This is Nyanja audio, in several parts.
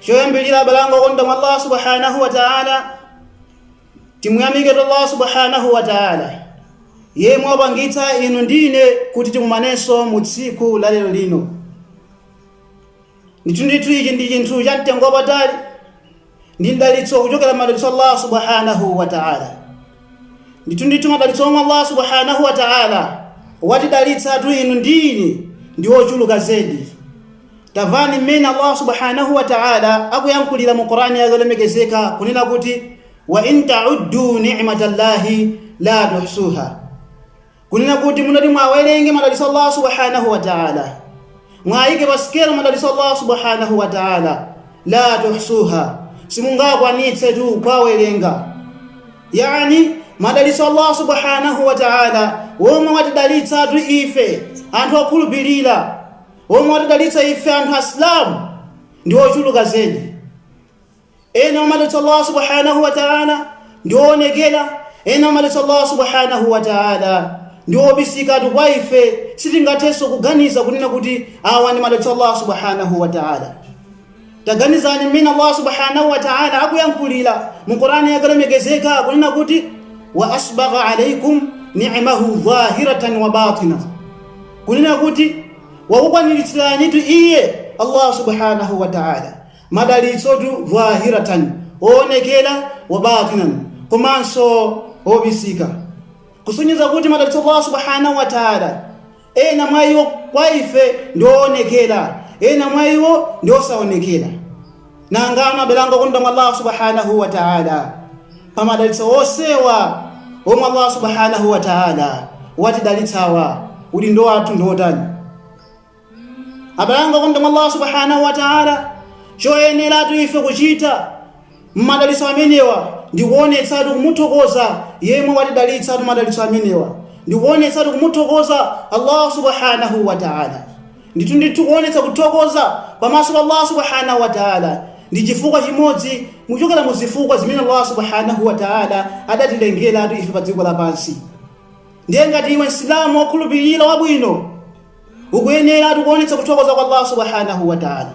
choyambilira abale anga okondedwa mwa allah subhanahu wa taala timuyamike tu allah subhanahu wa taala yemwe wapangitsa inu ndi ine kuti tikumanenso mu tsiku la lero lino ndithu ndithu ichi ndi chinthu cha mtengo wapatali ndi mdalitso kuchokera m'madalitso a allah subhanahu wa taala ndithu ndithu madalitso omwe allah subhanahu wa taala watidalitsatu inu ndi ine ndi ochuluka zedi Tamvani mmene Allah Subhanahu wa Ta'ala akuyankhulira mu Qur'an yake yolemekezeka kunena kuti wa in ta'uddu ni'matallahi la tuhsuha. Kunena kuti munakati muwawerenge madalitso a Allah Subhanahu wa Ta'ala. Muwaike pa sikelo madalitso a Allah Subhanahu wa Ta'ala la tuhsuha. Simungakwanitsetu kuwawerenga. Yani madalitso a Allah Subhanahu wa Ta'ala womwe watidalitsatu ife anthu okhulupirira Omwe watidalitsa ife anthu Asilamu ndi ochuluka zedi. Ena mwa madalitso a Allah subhanahu wa ta'ala ndi oonekera, ena mwa madalitso a Allah subhanahu wa ta'ala ndi obisikatu kwa ife sitingathenso kuganiza kunena kuti awa ndi madalitso a Allah subhanahu wa ta'ala. Taganizani mmene Allah subhanahu wa ta'ala akuyankhulira mu Qur'ani yake yolemekezeka kunena kuti wa asbagha alaikum ni'mahu dhahiratan wa batina, kunena kuti wakukwaniritsiranitu iye Allah subhanahu wa ta'ala madalitsotu dhahiratan oonekera wa batinan komanso obisika, kusonyeza kuti madalitso a Allah subhanahu wa ta'ala Ena mwa iwo kwa ife ndi owonekera, ena mwa iwo ndi osaonekera. Nanga abale anga okondedwa mwa Allah subhanahu wa ta'ala. Pamadalitso onsewa omwe Allah subhanahu wa ta'ala watidalitsawa, udindo wathu ndi otani? Abale anga okondedwa mwa Allah subhanahu wa ta'ala, choyeneratu ife kuchita M'madalitso amenewa ndikuonetsatu kumuthokoza Yemwe watidalitsatu madalitso amenewa, ndikuonetsatu kumuthokoza Allahu subhanahu wa ta'âlâ. Ndithu ndithu kuonetsa kuthokoza pamaso pa Allahu subhanahu wa ta'âlâ ndi chifukwa chimodzi kuchokera mu zifukwa zimene Allahu subhanahu wa ta'âlâ adatilengeratu ife pa dziko lapansi. Ndiye ngati iwe Msilamu wokhulupirira wabwino ukuyeneratu kuonetsa kuthokoza kwa Allahu subhanahu wa ta'âlâ,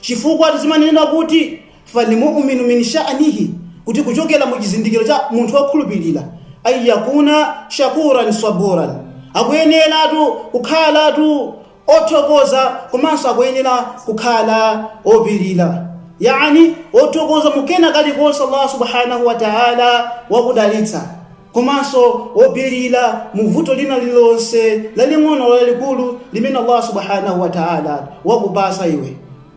chifukwa zimanenedwa kuti Fal mu'minu min sha'nihi, kuti kuchokera mu chizindikiro cha munthu wokhulupirira, an yakuna shakuran swaburan, akuyeneratu kukhalatu othokoza komanso akuyenera kukhala opirira. Yaani wothokoza mu kena kalikonse Allah subhanahu wa ta'ala wakudalitsa komanso wopirira mu vuto lina lililonse laling'ono lalikulu limene Allah subhanahu wa ta'ala wakupatsa iwe.